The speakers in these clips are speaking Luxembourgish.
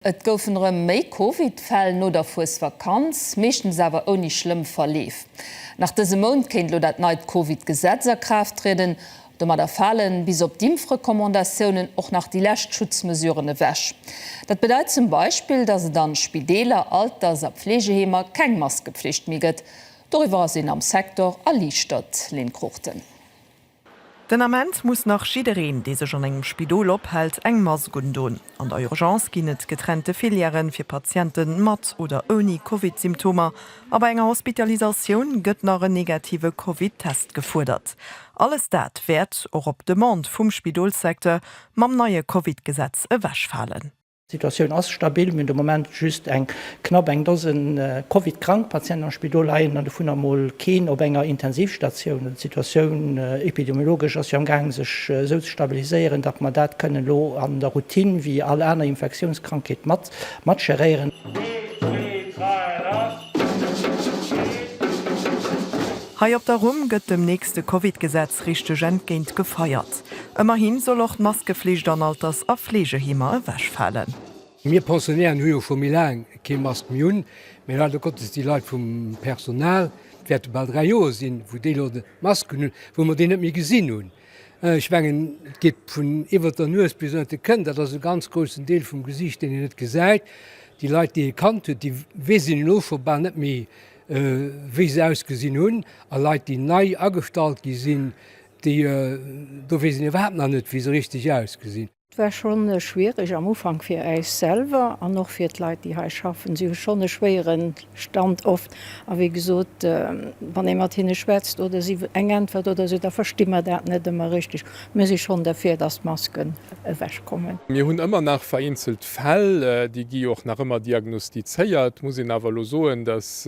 Et goufen erëm méi Covid-Fäll no der Fuesvakanz, meeschtens awer ouni schlëmm Verleef. Nach dëse Mount kéint elo dat neit Covid-Gesetz a Kraaft trieden. Domadder fale bis op d'Impfrecommandatiounen och nach déi lescht Schutzmesuren ewech. Dat bedeit zum Beispill, datt et an Spideeler, Alters a Pfleegeheemer keng Maskepflicht méi gëtt. Doriwwer ass een am Secteur erliichtert, Lynn Cruchten. Den Ament muss nach jiddereen, dee sech an engem Spidol ophält, eng Mask undon. An der Urgence ginn et getrennte Filièren fir Patiente mat oder ouni Covid-Symptomer a bei enger Hospitalisatioun gëtt nach en negative Covid-Test gefuerdert. Alles dat wäert, och op Demande vum Spidolssecteur, mam neie Covid-Gesetz ewechfalen. D'Situatioun ass stabil. Mir hunn de Moment just eng knapp eng Dosen Covid-krank Patienten am Spidol leien, an dovunner mol keen op enger Intensivstatioun. Also d'Situatioun epidemiologesch ass jo am gaang sech esou ze stabiliséieren, datt mer dat kënnen elo an der Routine wéi all aner Infektiounskrankheet mat matgeréieren. Hei op der Rumm gëtt dem nächste Covid-Gesetz richteg entgéint gefeiert. Ëmmerhi soll och d'Maskeflicht an Alters a Fleegeheemer ewechfalen. Mir Pensionären hu jo scho méi laang kee Mask méi un, mee leider Gottes déi Leit vum Personal, et wäerte bal 3 Joer sinn, wou déi Leit Masken hunn, wou mer déi net méi gesinn hunn. Ech mengen, et geet vun iwwert der Nues bis ënnert de Kënn, dat ass e ganz groussen Deel vum Gesiicht, deen een net gesäit. Déi Leit, déi ee kannt huet, déi weess een elo scho bal net méi, wéi se ausgesinn hunn. A Leit, déi nei agestallt gi sinn, Déi do weess een iwwerhaapt nach net, wéi se richteg ausgesinn. Et war scho schwiereg am Ufank fir äis selwer an och fir d'Leit, déi hei schaffen. Si hu schonn e schwéiere Stand oft. A wéi gesot, wann ee mat hinne schwätzt oder si eng Äntwert oder esou, da versti mer dat net ëmmer richteg. Mir si schonn derfir, dass d'Masken ewech kommen. Mir hunn ëmmer nach vereenzelt Fäll, déi gi och nach ëmmer diagnostizéiert. Muss een awer elo soen, dass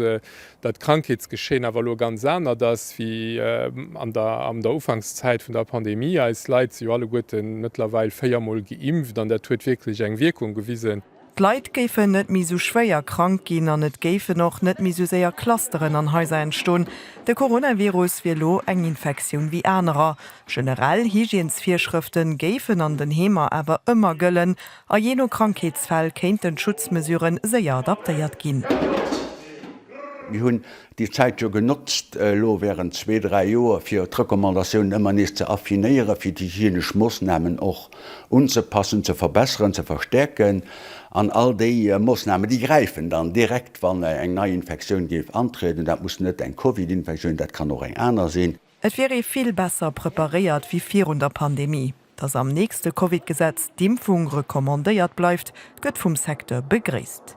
datt d'Krankheetsgeschehen awer elo ganz anert ass wéi an der an der Ufankszäit vun der Pandemie. Eis Leit si jo alleguerte mëttlerweil véiermol geimpft an dat huet wierklech eng Wierkung gewisen. D'Leit géifen net méi esou schwéier krank ginn an et géifen och net méi esou séier Clusteren an Haiser entstoen. De Coronavirus wier elo eng Infektioun wéi anerer. Generell Hygiensvirschrëfte géifen an den Heemer awer ëmmer gëllen A jee no Krankheetsfäll kéinten d'Schutzmesurë séier adaptéiert ginn. Mir hunn déi Zäit jo genotzt elo während zwee, dräi Joer, fir d'Recommandatiounen ëmmer nees ze affinéieren, fir d'hygienesch Moossnamen och unzepassen, ze verbesseren, ze verstärken. An all déi Moossnamen, déi gräifen dann direkt, wann eng nei Infektioun géif antrieden. Dat muss net eng Covid-Infektioun, dat kann och eng aner sinn. Et wier ee vill besser preparéiert wéi virun der Pandemie. Datt am nächste Covid-Gesetz d'Impfung recommandéiert bleift, gëtt vum Secteur begréisst.